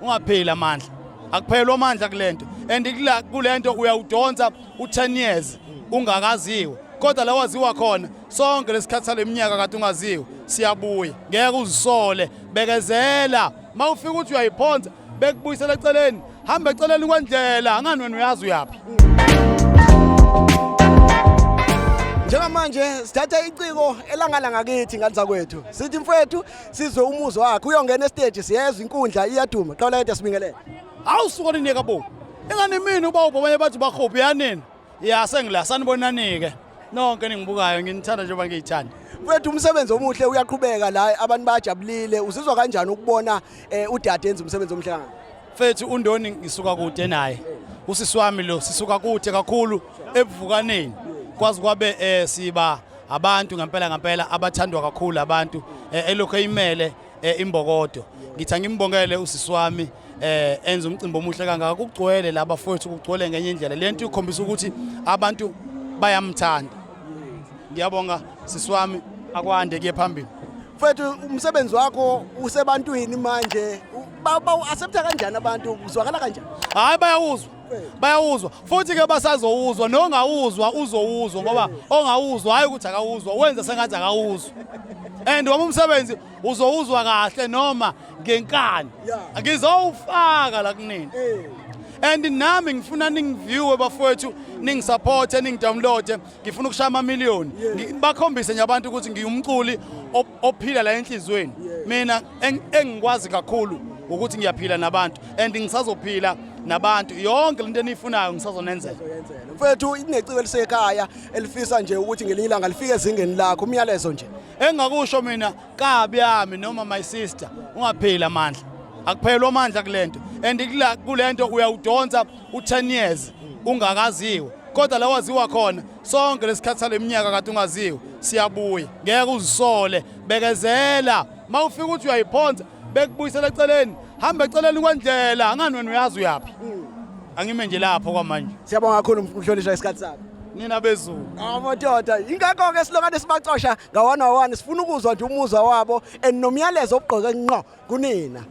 ungapheli amandla akuphelwa amandla kulento and kulento uyawudonsa u10 years ungakaziwe kodwa la waziwa khona sonke lesikhathi saleminyaka kade ungaziwe siyabuya ngeke uzisole bekezela mawufika uthi uyayiphonsa bekubuyisela eceleni hamba eceleni kwendlela angani wena uyazi uyaphi njengamanje sithatha iciko elangala ngakithi ngani zakwethu sithi mfowethu sizwe umuzo wakhe uyongena estage siyezwa inkundla iyaduma qala yedwa sibingelele hawu suka ninike bo ingane mina uba ubabanye bathi bakhophi yanini ya sengila sanibonanike nonke ningibukayo nginithanda njengoba ngiyithanda mfethu umsebenzi omuhle uyaqhubeka la abantu bayajabulile uzizwa kanjani ukubona eh, udade enza umsebenzi omuhle kangaka mfethu undoni ngisuka kude naye usisi wami lo sisuka kude kakhulu ebuvukaneni kwazi kwabe eh siba abantu ngempela ngempela abathandwa kakhulu abantu eh, elokhu eyimele eh, imbokodo ngithi angimbongele usisi wami eh enza umcimbi omuhle kangaka kugcwele laba futhi kugcwele ngenye indlela lento ikhombisa ukuthi abantu bayamthanda ngiyabonga sisi wami akwande kuye phambili mfethu umsebenzi wakho usebantwini manje bawu-accepta kanjani abantu uzwakala kanjani hhayi bayawuzwa bayawuzwa futhi ke basazowuzwa nongawuzwa uzowuzwa ngoba ongawuzwa hayi ukuthi akawuzwa wenza sengathi akawuzwa and wami umsebenzi uzowuzwa kahle noma ngenkani ngizowufaka la kunini eh. and nami ngifuna ningiviewe bafowethu ningisupporte ningidownloade ngifuna ukushaya amamiliyoni bakhombise nje abantu ukuthi ngiyumculi ophila la enhlizweni mina engikwazi kakhulu ukuthi ngiyaphila nabantu and ngisazophila nabantu yonke lento eniyifunayo ngisazonenzela mfethu ineciko elisekhaya elifisa nje ukuthi ngelinye ilanga lifike ezingeni lakho umyalezo nje engakusho mina kabi yami noma my sister ungapheli amandla akuphelwa amandla kulento and kulento uyawudonsa u10 years ungakaziwe kodwa lawaziwa khona sonke lesikhathi saleminyaka kade ungaziwe siyabuya ngeke uzisole bekezela mawufika ukuthi uyayiphonsa bekubuyisela eceleni hamba eceleni kwendlela angani wena uyazi uyaphi angime nje lapho kwamanje siyabonga kakhulu mhlonishwa isikhathi sakho nina bezulu amadoda ingakho ke silokane sibacosha ngawana wani sifuna ukuzwa nje umuzwa wabo and nomyalezo obugqoke nqo kunina